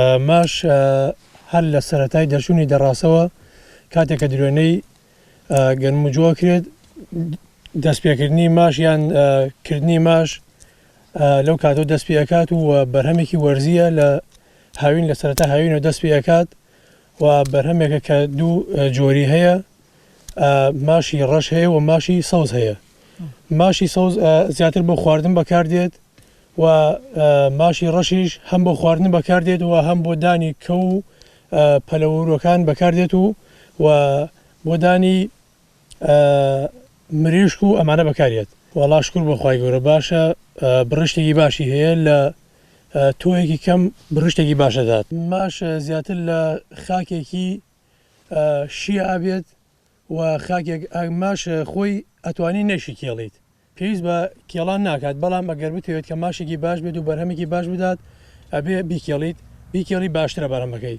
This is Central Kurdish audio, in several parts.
ماش هەر لە سەتای دەرچوونی دەڕاستەوە کاتێک کە درێنەی گەنمجووە کرێت دەستپێکردنی ماش یان کردنی ماش لەو کاتەوە دەست پێ ئەکات و بەرهەمێکی وەرزیە لە هاوین لە سەرەتا هاوینەوە دەست پێ ئەکات و بەرهەمێکە کە دوو جۆری هەیە ماشی ڕەش هەیە و ماشی سەوز هەیە ماشی سەوز زیاتر بۆ خواردن بەکاردێت و ماشی ڕەشیش هەم بۆ خواردن بەکاردێت و هەم بۆ دانی کە و پەلەوروەکان بەکاردێت و و بۆ دانی ئە مریشک و ئەمانە بەکاریەت. وەڵا شکور بۆ خوای گەورە باشە بڕشتێکی باشی هەیە لە تۆوێکی کەم بڕشتێکی باش ئەدات. ماش زیاتر لە خاکێکی شیە ئەبێت و خاکێک ماش خۆی ئەتوانی نەشی کێڵیت پێویست بە کێڵان ناکات بەڵام ئەگەر بتەوێت کە ماشێکی باش بێت و بەرهەمێکی باش بدات ئەبێ بیکێڵیت بیکێڵی باشترە بەرهەمەکەی.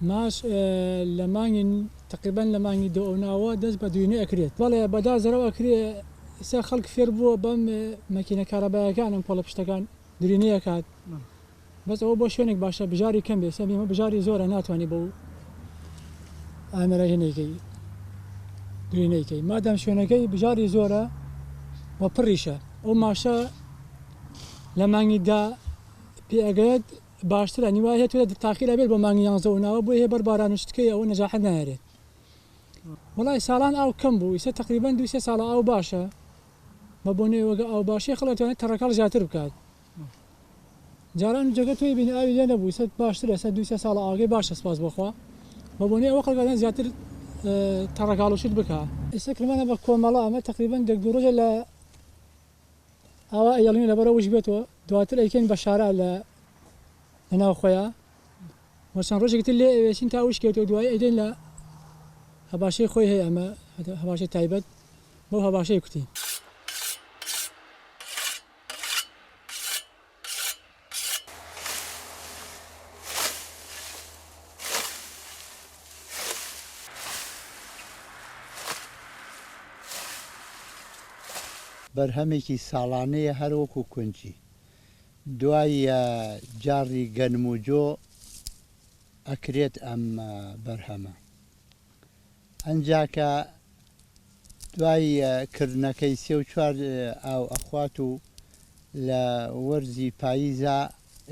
ماش لە مانگی تەقریبەن لە مانگی دە ئەو ناوە دەست بە دوینە ئەکرێت بەڵێ بەدا زەرەو ئەکرێ ئستا خەڵک فێر بووە بەم مەکینە کارەبایەکان ئەم کۆڵە پشتەکان درینە ئەکات بەس ئەوە بۆ شوێنێک باشە بژاری کەم بێ سەر بیمە بژاری زۆرە ناتوانانی بەو ئامێرە هێنێکی درینەیکەی مادەم شوێنەکەی بژاری زۆرە وە پڕیشە ئەو ماشە لە مانگیدا پێ ئەگەێت باشتر ئەنی وایە تۆ تاقیلا بێت بۆ مانگی یانزە و ناوە بۆ هەیە بەر باران و شتکەی ئەوە نەجاحەت نایەرێت وڵای ساڵان ئاو کەم بوو ئیسە تقریبان دوو سێ ساڵە ئاو باشە بە بۆنێ وەگە ئاو باشی خڵەتوانێت تەڕەکەڵ زیاتر بکات جاران جگە توی بین ئاوی لێ نەبوو سە باشترە سە دوو سێ ساڵە ئاگەی باشە سپاس بخوا بە بۆنێ ئەوە خڵگەدان زیاتر تەڕەکاڵ و شت بکە ئێستا کرمانە بە کۆمەڵە ئەمە تقریبان دەک دوو ڕۆژە لە ئاوا ئەیڵین لەبەر ئەوەش بێت و دواتر ئەیکەین بە شارا لە لەناو خۆیان و چەند ڕۆژێکی تر لێ ئەوێشین تا وشکێت و دوایی ئەیدەین لە هەباشەی خۆی هەیە ئەمە هەباشەی تایبەت بەو هەباشەی کوتی بەرهەمێکی ساڵانەیە هەر وەکو کونجی دواییە جاڕی گەنم و جۆ ئەکرێت ئەم بەرهەمە. ئنجا کە دوای کردنەکەی سێ و چوار ئاو ئەخوات و لە وەرزی پاییزا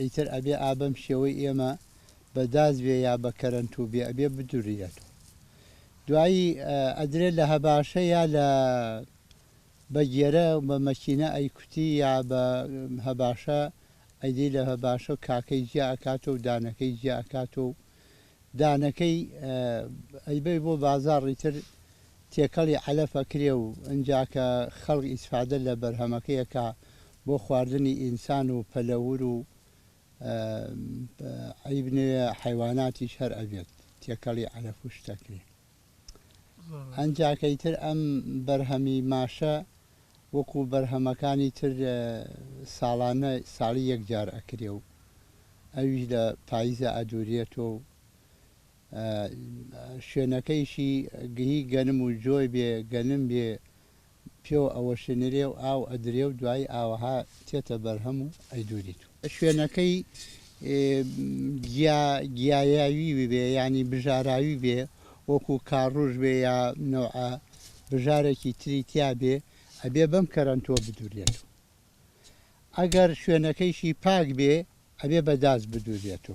ئیتر ئەبێ ئا بەم شێوەی ئێمە بە دازوێ یا بە کەرەنتووبێ ئەبێ بدوریرێتەوە دوایی ئەدرێ لە هەباشە یا لە بە گێرە بە مەکینە ئەیکوتی یا بە هەباشە ئەیدی لە هەباشە کاکەی جیا ئەکاتەوە و دانەکەی جیا ئەکاتەوە و دانەکەی ئەیبەی بۆ بازاڕی تر تێکەڵی عەلەف ئەکرێ و ئنجا کە خەڵک ئیسفادە لە بەرهەمەکەی ئەکا بۆ خواردنی ئینسان و پەلەور و ئەیبنێ حەیواناتیش هەر ئەبێت تێکەڵی عەلەف و شت ئەکرێ. ئەنجاکەی تر ئەم بەرهەمی ماشە وەکو بەرهەمەکانی تر ساڵانە ساڵی یەک جار ئەکرێ و ئەویش لە پایزە ئەدورێتۆ و شوێنەکەیشی گهی گەنم و جۆێ بێ گەنم بێ پێوە ئەوەشێنرێ و ئاو ئەدرێ و دوایی ئاوەها تێتە بەرهەم و ئەیدوریت و. شوێنەکەی گیا گیایاوی ببێ یانی بژاراوی بێ وەکو کاڕوژ بێ یا نەوعە بژارێکی تری تیا بێ ئەبێ بەم کەرەنتوە بدورێت و ئەگەر شوێنەکەیشی پاک بێ ئەبێ بە داس بدورێت و.